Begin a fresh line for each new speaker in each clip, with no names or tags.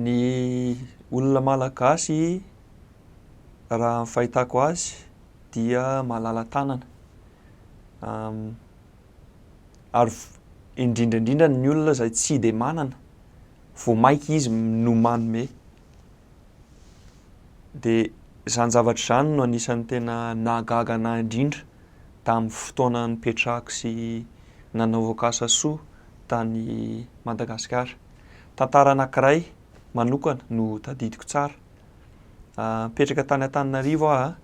Ny olona malagasy raha ny fahitako azy dia malala-tanana ary indrindra indrindra ny olona izay tsy dia manana vao maika izy no manome dia izany zavatra izany no anisany tena nahagaga anah indrindra tamin'ny fotoana nipetrahako sy nanaovako asa soa tany Madagasikara Tantara anankiray manokana no tadidiko tsara. Nipetraka tany Antananarivo aho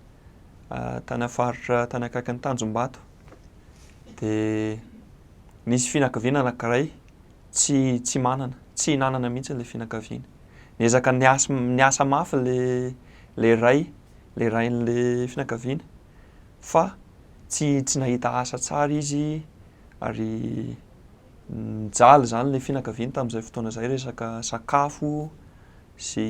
a, tany amin'ny faritra tany akaikin'ny Tanjombato. Dia nisy fianakaviana anankiray tsy tsy manana, tsy hinanana mihitsy ilay fianakaviana. Niezaka niasa niasa mafy ilay ilay ray, ilay rain'ilay fianakaviana. fa tsy tsy nahita asa tsara izy ary nijaly izany ilay fianakaviany tamin'izay fotoana izay resaka sakafo sy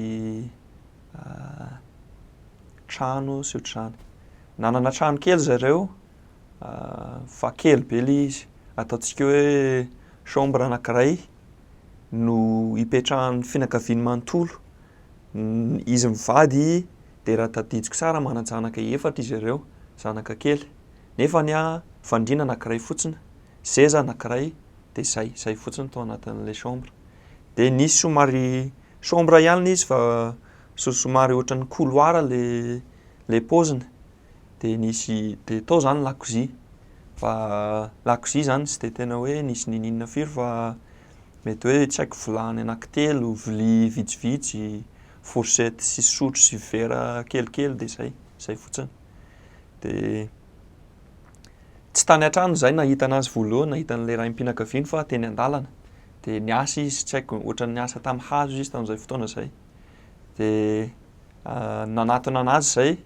trano sy ohatr'izany. Nanana trano kely zareo fa kely be ilay izy, ataontsika hoe chambre anankiray no ipetrahan'ny fianakaviany manontolo, izy mivady dia raha tadidiko tsara manan-janaka efatra izy ireo, zanaka kely. Nefa ny ahy, fandriana anankiray fotsiny, seza anankiray, dia izay, izay fotsiny tao anatin'ilay chambre. Dia nisy somary chambre ihany ilay izy fa somary ohatran'ny couloir ilay ilay paoziny. Dia nisy, dia tao izany lakozia. Fa lakozia izany tsy dia tena hoe nisy niniana firy fa mety hoe tsy haiko vilany anankitelo, vilia vitsivitsy, fourchette sy sotro sy vera kelikely dia izay, izay fotsiny. Dia tsy tany an-trano izahay nahita anazy voalohany, nahita an'ilay raim-pianakaviany fa teny an-dalana. Dia niasa izy, tsy haiko, ohatran'ny niasa tamin'ny hazo izy tamin'izay fotoana izay. Dia nanatona anazy izay,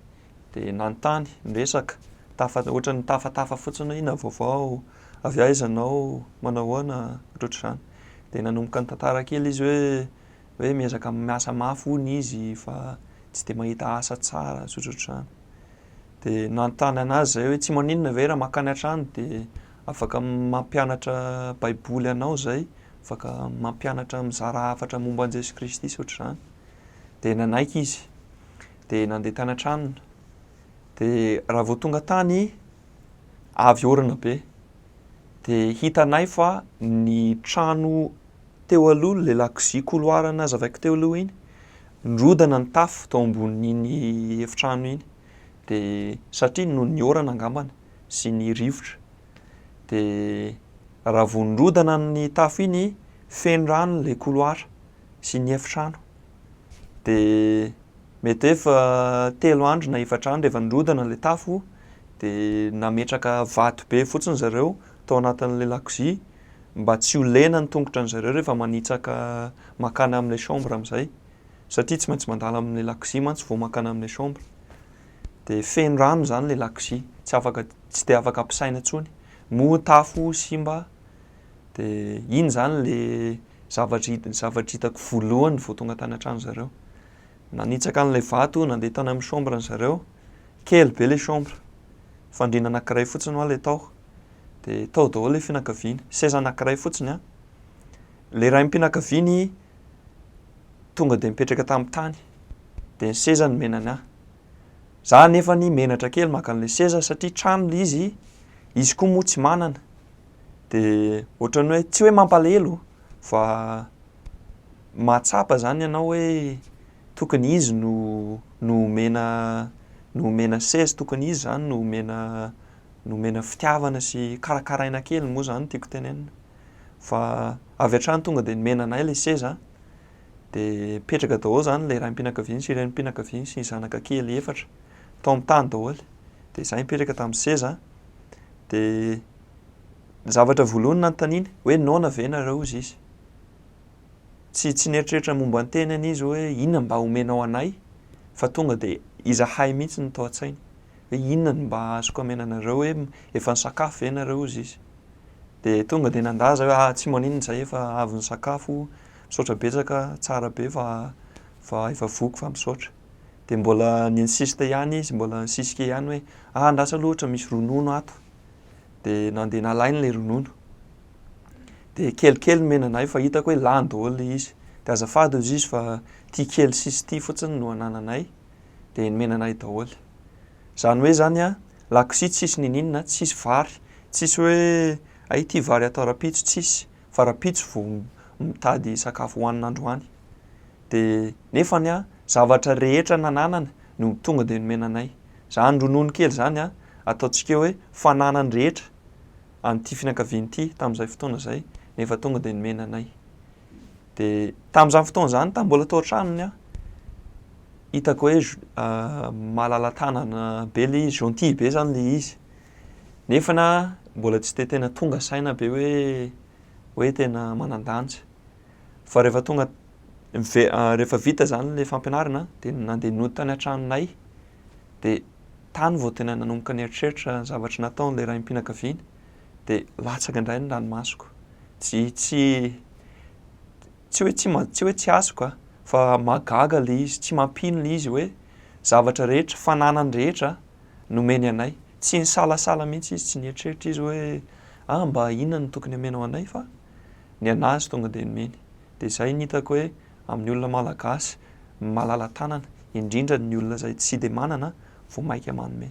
dia nanontany, niresaka, tafa, ohatran'ny tafatafa fotsiny hoe inona vaovao, avy aiza ianao, manao ahoana, ohatrohatr'izany. Dia nanomboka nitantara kely izy hoe hoe miezaka miasa mafy hono izy fa tsy dia mahita asa tsara zotra otrany dia nanontany an'azy izay hoe tsy maninona ve raha makany an-trano dia afaka mampianatra baiboly anao izay afaka mampianatra mizara hafatra momba an'i Jesoa Kristy sy otr'izany dia nanaiky izy dia nandeha tany an-tranony dia raha vao tonga tany avy orina be dia hitanay fa ny trano Teo aloha ilay lakozia couloir nazavaiko teo aloha iny, nirodana ny tafo tao ambonin'iny efitrano iny dia satria noho ny orana angambany sy ny rivotra dia raha vao nirodana ny tafo iny feno rano ilay couloir sy ny efitrano dia mety hoe efa telo andro na efatra andro efa nirodana ilay tafo dia nametraka vato be fotsiny zareo tao anatin'ilay lakozia mba tsy ho lena ny tongotra an'i zareo rehefa manitsaka makany amin'ilay chambre amin'izay satria tsy maintsy mandalo amin'ilay lakozia mantsy vao makany amin'ilay chambre dia feno rano izany ilay lakozia tsy afaka tsy dia afaka ampisaina intsony moa tafo simba dia iny izany ilay zavatra hita zavatra hitako voalohany vao tonga tany an-trano zareo Nanitsaka an'ilay vato nandeha tany amin'ny chambre ny zareo, kely be ilay chambre, fandriana anankiray fotsiny hoa ilay tao, dia tao daholo ilay fianakaviany, seza anankiray fotsiny an! Ilay raim-pianakaviany tonga dia mipetraka tamin'ny tany, dia ny seza nomenany ahy. Za anefany menatra kely maka an'ilay seza satria trano ilay izy, izy koa moa tsy manana, dia ohatran'ny hoe tsy hoe mampalahelo fa. Mahatsapa zany ianao hoe tokony izy no no omena no omena seza, tokony izy zany no omena no omena fitiavana sy karakaraina kely moa zany no tiako tenenina. Fa avy hatrany tonga de nomena anay le seza de mipetraka daholo zany le raim-pianakaviany sy renim-pianakaviany sy ny zanaka kely efatra tao amin'ny tany daholo de zay mipetraka tamin'ny seza de ny zavatra voalohany nanontaniany hoe noana ve nareo hozy izy? Tsy tsy nieritreritra momba ny tenany izy hoe inona mba omenao anay fa tonga dia izahay mihitsy no tao an-tsainy hoe inona no mba azoko amena anareo hoe efa nisakafo ve nareo hozy izy dia tonga dia nandaza hoe ah tsy maninona izahay efa avy nisakafo misaotra betsaka tsara be fa fa efa voky fa misaotra dia mbola ni-insiste ihany izy mbola nisisika ihany hoe ah andraso aloha ohatra misy ronono ato dia nandeha nalainy ilay ronono dia kelikely ny menanay fa hitako hoe lany daholo ilay izy, dia azafady hoy izy fa ity kely sisa ity fotsiny no anananay, dia ny menanay daholo, izany hoe izany an, lakozia tsisy niniana, tsisy vary, tsisy hoe hay ity vary atao rahampitso, tsisy, fa rahampitso vao mitady sakafo hohanina androany, dia nefa ny an, zavatra rehetra nananany no tonga dia nomena anay, izany ronono kely izany an, ataontsika eo hoe fananany rehetra, an'ity fianakaviana ity tamin'izay fotoana izay, nefa tonga dia nomena anay. Dia tamin'izany fotoana izany, tamin'ny mbola tao an-tranony aho, hitako hoe malala-tanana be ilay izy, gentil be izany ilay izy. Nefa na mbola tsy dia tena tonga saina be hoe hoe tena manan-danja. Fa rehefa tonga mive- rehefa vita izany ilay fampianarana dia nandeha nody tany an-tranonay dia Tany vao tena nanomboka nieritreritra ny zavatra nataon'ilay raim-pianakaviana dia latsaka indray ny ranomasoko. Tsy, tsy, tsy hoe tsy, tsy hoe tsy azoko a, fa mahagaga ilay izy, tsy mampino ilay izy hoe zavatra rehetra, fananany rehetra nomeny anay. Tsy nisalasala mihitsy izy, tsy nieritreritra izy hoe ah mba inona no tokony omenao anay fa ny an'azy tonga dia nomeny. Dia izay no hitako hoe amin'ny olona malagasy malala-tanana, indrindra ny olona izay tsy dia manana vao mainka manome.